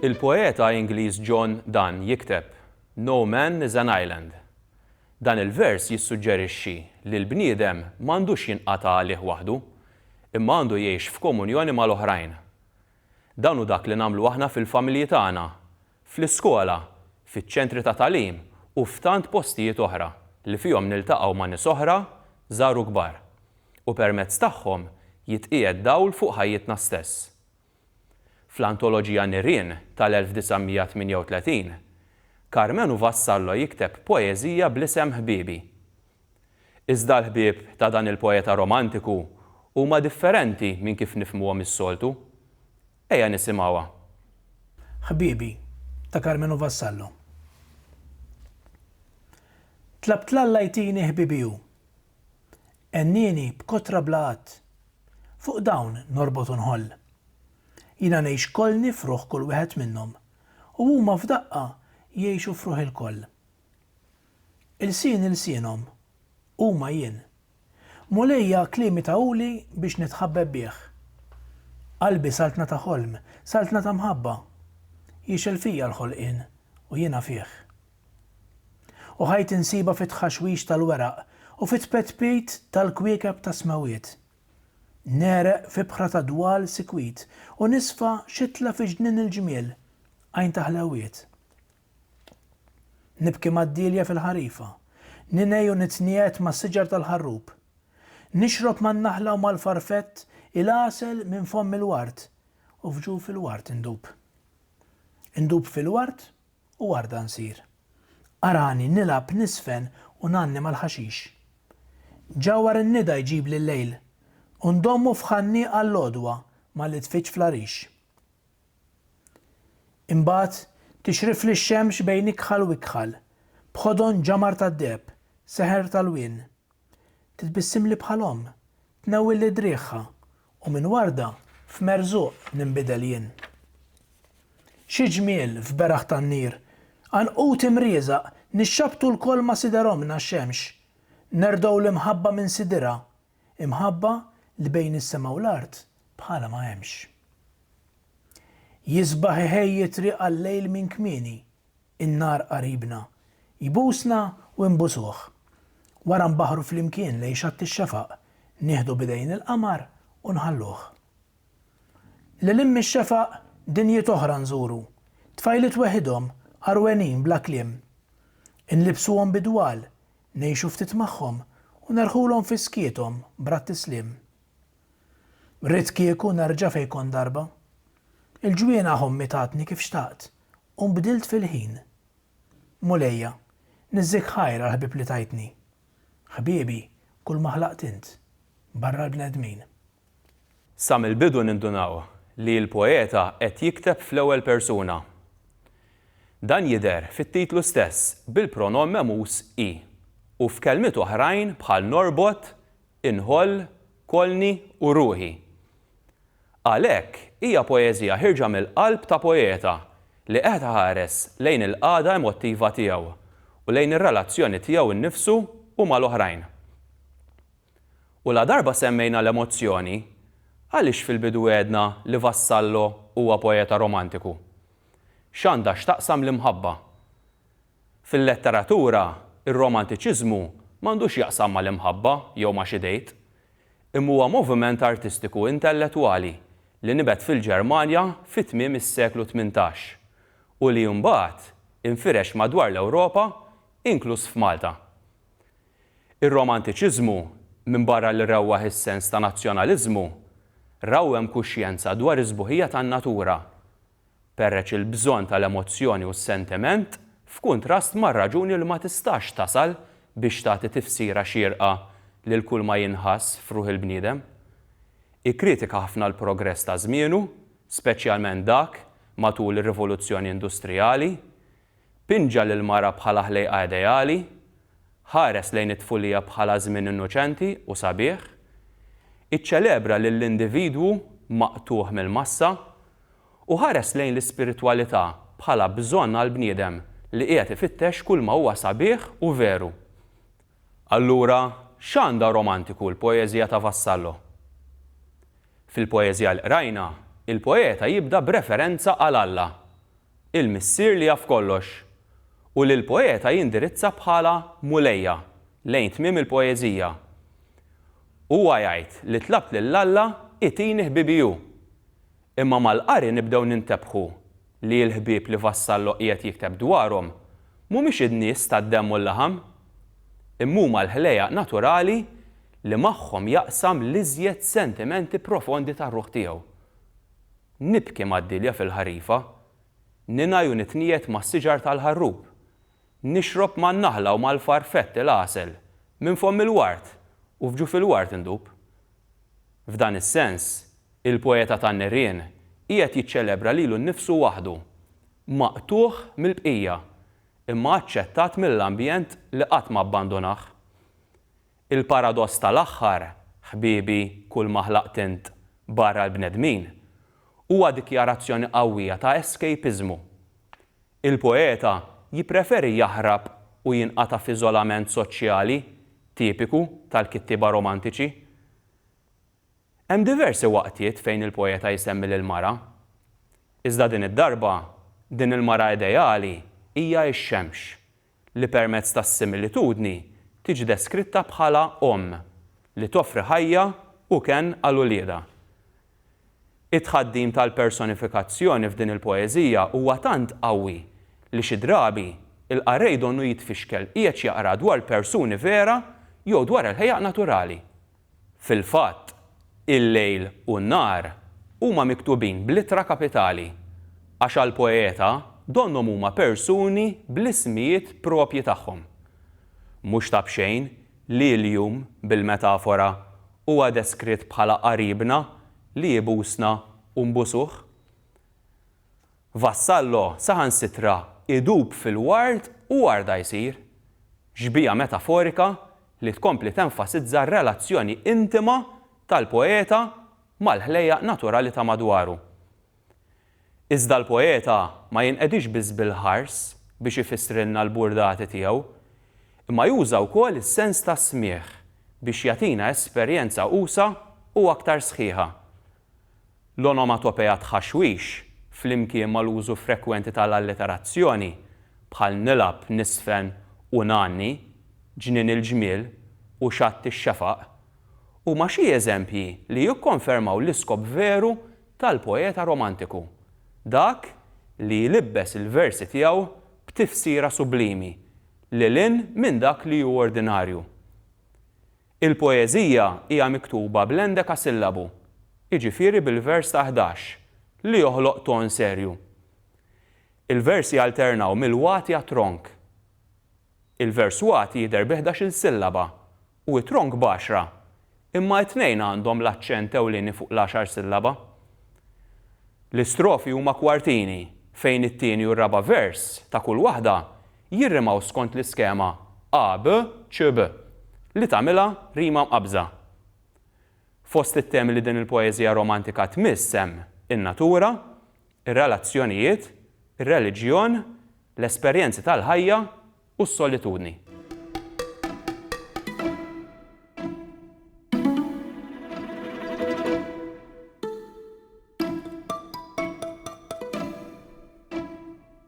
Il-poeta Ingliż John Donne jikteb, No man is an island. Dan il-vers jissuġġerixxi li l-bniedem m'għandux jinqata' għalih waħdu, imma għandu jgħix f'komunjoni mal-oħrajn. Dan hu dak li nagħmlu aħna fil-familji tagħna, fl-iskola, fiċ-ċentri ta' tagħlim u f'tant postijiet oħra li fihom niltaqgħu ma' nies oħra, żgħar u kbar, u permezz tagħhom jitqiegħed dawl fuq ħajjitna stess. Fl-antoloġija Nirien tal-1938, Carmenu Vassallo jikteb poeżija bl-isem Ħbiebi. Iżda l-ħbieb ta' dan il-poeta romantiku huma differenti minn kif nifhmuhom is-soltu. Ejja nisimgħuha. Ħbiebi, ta' Karmenu Vassallo. Tlabt 'l Alla jtini ħbibi u. Għennieni b'kotra bla għadd. Fuq dawn norbot u nħoll. Jiena ngħix kolni f'ruħ kull wieħed minnhom, u huma f'daqqa jgħixu f'ruħ ilkoll. Ilsien ilsienhom, huma jien. Mulejja kliemi tawuli biex nitħabbeb bih. Qalbi saltna ta' ħolm, saltna ta' mħabba. Jixgħel fija l-ħolqien u jiena fih. U ħajti nsibha fit-tħaxwix tal-weraq u fit-tpetpit tal-kwiekeb tas-smewwiet. Negħreq f'ibħra ta' dwal sikwit u nisfa xitla fi ġnien il-ġmiel, għajn ta' ħlewwiet. Nibki mad-dielja fil-ħarifa. Ningħi u nitniegħed mas-siġar tal-ħarrub. Nixrob man-naħla u mal-farfett il-għasel minn fomm il-ward u f'ġuf il-ward indub. Indub fil-ward u warda nsir. Arani nilgħab niżfen u ngħanni mal-ħaxix. Ġawhar in-nida jġibli l-lejl u ndommu f'ħanniq għall-għodwa malli tfiġġ fl-għarix. Imbagħad tixrifli x-xemx bejn ikħal u ikħal, b'ħodon ġamar tad-deheb, seħer tal-wien. Titbissimli bħal omm, tnewwilli driegħha, u minn warda f'merżuq ninbidel jien. Xi ġmiel f'beraħ tan-nir, għanqud imrieżaq, nixxabbtu lkoll ma' sider ommna x-xemx. Nerdgħu l-imħabba minn sidirha, imħabba li bejn is-sema u l-art bħalha ma hemmx. Jisbaħ iħejji t-triq għal-lejl minn kmieni, in-nar qaribna, jbusna u nbusuh. Wara nbaħħru flimkien lejn xatt ix-xefaq, nieħdu b'idejn il-qamar u nħalluh. Lil hinn mix-xefaq, dinjiet oħra nżuru, tfajliet weħidhom, għarwenin bla kliem. Inlibbsuhom bidwal, Ngħixu ftit magħhom u nerħulhom fi skiethom brat-tisliem. Ridt kieku nerġa' fejn kont darba. Il-ġwienaħ ommi tatni kif xtaqt u nbdilt fil-ħin. Mulejja, niżżik ħajr għall-ħbieb li tajtni. Ħbiebi, kulma ħlaqt int, barra l-bnedmin. Sa mill-bidu nindunaw li l-poeta qed jikteb fl-ewwel persuna. Dan jidher fit-titlu stess bil-pronom memus i u f'kelmiet oħrajn bħal norbot, inħoll, kollni u ruħi. Għalhekk hija poeżija ħierġa mill-qalb ta' poeta li qed iħares lejn il-qagħda emottiva tiegħu u lejn ir-relazzjoni tiegħu nnifsu u mal-oħrajn. U ladarba semmejna l-emozzjoni, għaliex fil-bidu għedna li Vassallo huwa poeta romantiku? X'għandha x'taqsam l-imħabba? Fil-letteratura, ir-romantiċiżmu m'għandu x'jaqsam mal-imħabba jew ma' xi dejt. Imma huwa moviment artistiku intellettwali li nibet fil-Ġermanja fi tmiem is-seklu tmintax u li imbagħad infirex madwar l-Ewropa, inkluż f'Malta. Ir-Romantiċiżmu, minbarra li rewwaħ is-sens ta' nazzjonaliżmu, rawwem kuxjenza dwar is-sbuħija tan-natura, perreċ il-bżonn tal-emozzjoni u s-sentiment f'kuntrast mar-raġuni li ma tistax tasal biex tagħti tifsira xierqa lil kull ma jinħass f'ruħ il-bniedem. Ikkritika ħafna l-progress ta' żmienu, speċjalment dak matul ir-Rivoluzzjoni Industrijali, Pinġa lill-mara bħala ħlejqa ideali, ħares lejn it-tfulija bħala żmien innoċenti u sabiħ, iċċelebra lill-individwu maqtugħ mill-massa, u ħares lejn l-ispiritwalità bħala bżonn għall-bniedem li qiegħed ifittex kulma huwa sabiħ u veru. Allura, x'għandha romantiku l-poeżija ta' Vassallo? Fil-poeżija li qrajna, il-poeta jibda b'referenza għal Alla, il-Missier li jaf kollox, u li l-poeta jindirizza bħala Mulejja lejn tmiem il-poeżija. Huwa jgħid li tlabt lil Alla itini ħbibi hu. Imma mal-qari nibdew nintebħu li l-ħbieb li Vassallo qiegħed jikteb dwarhom mhumiex in-nies tad-demm u l-laħam. Imma huma l-ħlejjaq naturali li magħhom jaqsam l-iżjed sentimenti profondi tar-ruħ tiegħu. Nibki mad-dielja fil-ħarifa, ningħi u nitniegħed mas-siġar tal-ħarrub, nixrob man-naħla u mal-farfett il-għasel minn fomm il-ward u f'ġuf il-ward indub. F'dan is-sens, il-poeta tan-nirien qiegħed jiċċelebra lilu nnifsu waħdu, maqtugħ mill-bqija, imma aċċettat mill-ambjent li qatt ma abbandunah. Il-paradoss tal-aħħar, ħbiebi, kull ma ħlaqt int barra l-bnedmin, huwa dikjarazzjoni qawwija ta' escapismu. Il-poeta jippreferi jaħrab u jinqata' f'iżolament soċjali tipiku tal-kittieba romantiċi. Hemm diversi waqtiet fejn il-poeta jsemmi lill-mara. Iżda din id-darba, din il-mara ideali hija x-xemx, li permezz tas-similitudni tiġi deskritta bħala omm li toffri ħajja u kenn għal uliedha. It-tħaddim tal-personifikazzjoni f'din il-poeżija huwa tant qawwi li xi drabi l-qarrej donnu jitfixkel qiegħed jaqra dwar persuni vera jew dwar il-ħejaq naturali. Fil-fatt, il-lejl u n-nhar huma miktubin bl-ittra kapitali, għax għall-poeta donnhom huma persuni bl-ismijiet proprji tagħhom. Mhux ta' b'xejn li l-jum, bil-metafora, huwa deskritt bħala qaribna li jbusna u nbusuh. Vassallo saħansitra idub fil-ward u warda jsir. Xbieha metaforika li tkompli tenfasizza r-relazzjoni intima tal-poeta mal-ħlejjaq naturali ta' madwaru. Iżda l-poeta ma jinqedix biss bil-ħars biex ifissrilna l-burdati tiegħu, imma juża wkoll is-sens tas-smigħ biex jagħtina esperjenza usa' u aktar sħiħa L-onomatopeja tħaxwix, flimkien mal-użu frekwenti tal-alliterazzjoni, bħal nilgħab, niżfen u ngħanni, ġnien il-ġmiel u xatt ix-xefaq, huma xi eżempji li jikkonfermaw l-iskop veru tal-poeta Romantiku, dak li jlibbes il-versi tiegħu b'tifsira sublimi, lil hinn minn dak li hu ordinarju. Il-poeżija hija miktuba bl-endekasillabu, jiġifieri bil-vers ta' ħdax, li joħloq ton serju. Il-versi jalternaw mill-wati għat-tronk. Il-vers wati jidher bi ħdax-il sillaba u t-tronk b'għaxra, imma t-tnejn għandhom l-aċċent ewlieni fuq l-għaxar sillaba. L-istrofi huma kwartini fejn it-tieni u r-raba' vers ta' kull waħda jirrimaw skont l-iskema a, b, c, b li tagħmilha rima mqabbża. Fost it-temi li din il-poeżija romantika tmiss hemm in-natura, ir-relazzjonijiet, ir-reliġjon, l-esperjenzi tal-ħajja u s-solitudni.